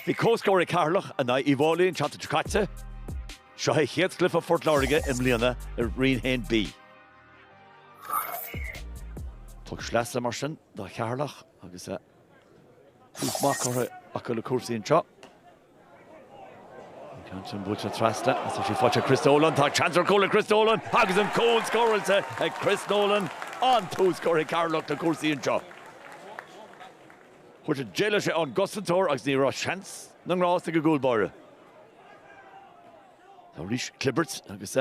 Bhí comhscór ag Ceatharlach in aghaidh Uí bhFáilí an tseachtain seo caite. Seo é chéad chluiche Phort Láirge i mbliana i Roinn 1B. Poc sleasa mar sin do Cheatharlach agus tús maith curtha acu le cúrsaí anseo. Johnson buailte trasna agus tá sí faighte ag Chris Nolan. Tá seans ar chúl ag Chris Nolan agus an cúl scóráilte ag Chris Nolan. An-tús curtha ag Ceatharlach le cúrsaí anseo. Fuair sé, d'éalaigh sé ón gcosantóir agus ní raibh seans na ngrást ag an gcúl báire. Tá arís Clibbords agus.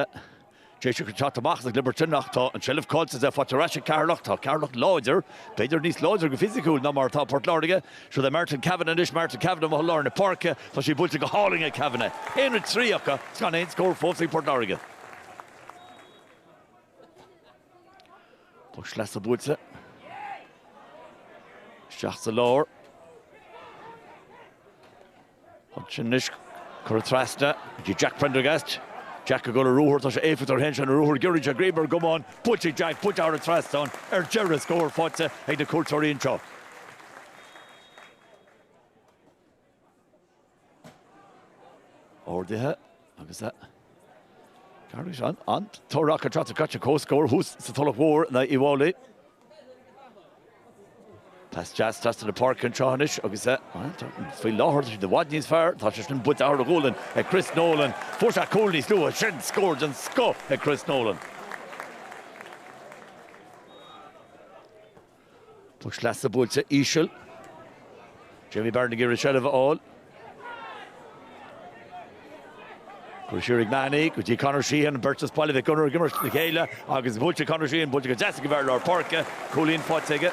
Deis acu teacht amach as an gclibirt sin ach tá an tseilbh caillte, faighte ar ais ag Ceatharlach. Tá Ceatharlach láidir, b'fhéidir níos láidre go fisiciúil ná mar atá Port Láirge. Siúd é Martin Kavanagh anois, Martin Kavanagh amuigh i lár na páirce. Tá sí buailte go hálainn ag Kavanagh. 1-3 acu is gan aon scór fós ag Port Láirge. Poc sleasa buailte isteach sa lár. Ansin anois, curtha trasna go dtí Jack Prendergast. Jack ag dul ar ruathar, tá sé éifeacht ar Shéamus ar an ruathar, giorraíonn sé a ghreim ar an gcamán, buailte ag Jack, buailte thar an trasnán ar deireadh, scór faighte ag na cuairteoirí anseo. Ardaithe. Agus a Gharraí is ann an t-amhrán Can Trotter Catch a comhscór thuas sa Tulach Mhór in Uíbh Fháilí. Pas deas trasna na páirce an tráth anois agus a Faoi láthair tá siad i bhfad níos fearr, tá sé sin bainte amach thar a ghualainn ag Chris Nolan. Fuair sé cúl níos luaithe sin, scór den scoth ag Chris Nolan. Poc sleasa buailte íseal, Jamie Barron ag iarraidh seilbh a fháil. Curtha siar ag Mahony go dtí Conor Sheahan, beirt as Baile Mhic Gonnair ag imirt le chéile agus buailte ag Conor Sheahan, buailte go deas ag an bhfear lár páirce, cúilín faighte aige.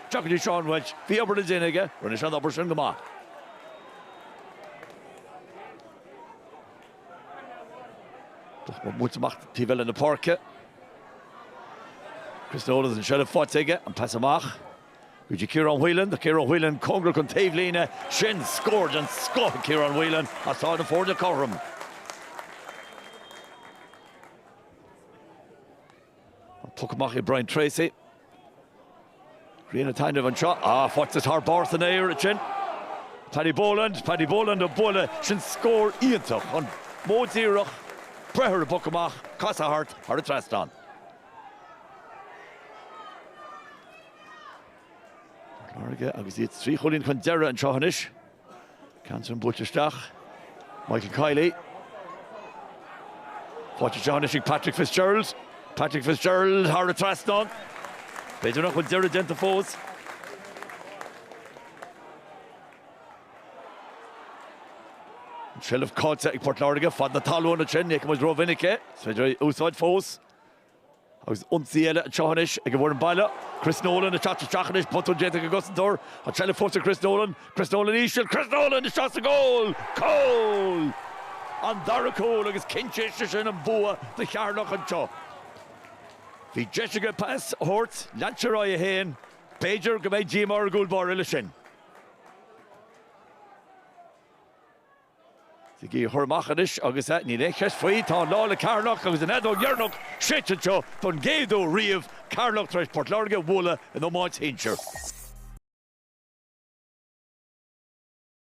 Tiocfaidh duit seo an bheilt. Bhí obair le déanamh aige. Rinne sé an obair sin go maith. Tá sí buailte amach taobh eile na páirce. Chris Nolan an seilbh faighte aige, an pas amach go dtí Ciarán Whelan. Tá Ciarán Whelan cóngarach don taobhlíne. Sin scór den scoth ag Ciarán Whelan agus tá na foirne cothrom. Poc amach ag Brian Tracy. Rian an taitnimh anseo. Ah, faighte thar barr san aer ansin. Paddy Boland, Paddy Boland an buille, sin scór iontach, an modh díreach, breith ar an bpoc amach, casadh thart, thar an trasnán. Port Láirge agus iad trí chúilín chun deireadh anseo anois. Ansin buailte isteach. Michael Kiely. Buailte isteach anois ag Patrick Fitzgerald. Patrick Fitzgerald thar an trasnán. B'fhéidir nach bhfuil deireadh déanta fós. An trealamh caillte ag Port Láirge fad na talún ansin, ní fheicim muid rómhinic é. Is féidir é a úsáid fós. Agus ionsaí eile anseo anois ag an bhfoireann baile. Chris Nolan ag teacht isteach anois, botún déanta ag an gcosantóir. An tseilbh fós ag Chris Nolan. Chris Nolan íseal. Chris Nolan isteach sa gcúl! Cúl! An dara cúl agus cinnte is é sin an bua do Cheatharlach anseo. Bhí deis aige pas a thabhairt, lean sé ar aghaidh é féin. B'fhéidir go mbeidh díomá ar an gcúl báire leis sin. Sa gcluiche amach anois agus níl aon cheist faoi, tá an lá le Ceatharlach agus an fheadóg dheireanach séidte anseo don gcéad uair riamh, Ceatharlach tar éis Port Láirge a bhualadh in iomáint shinsir.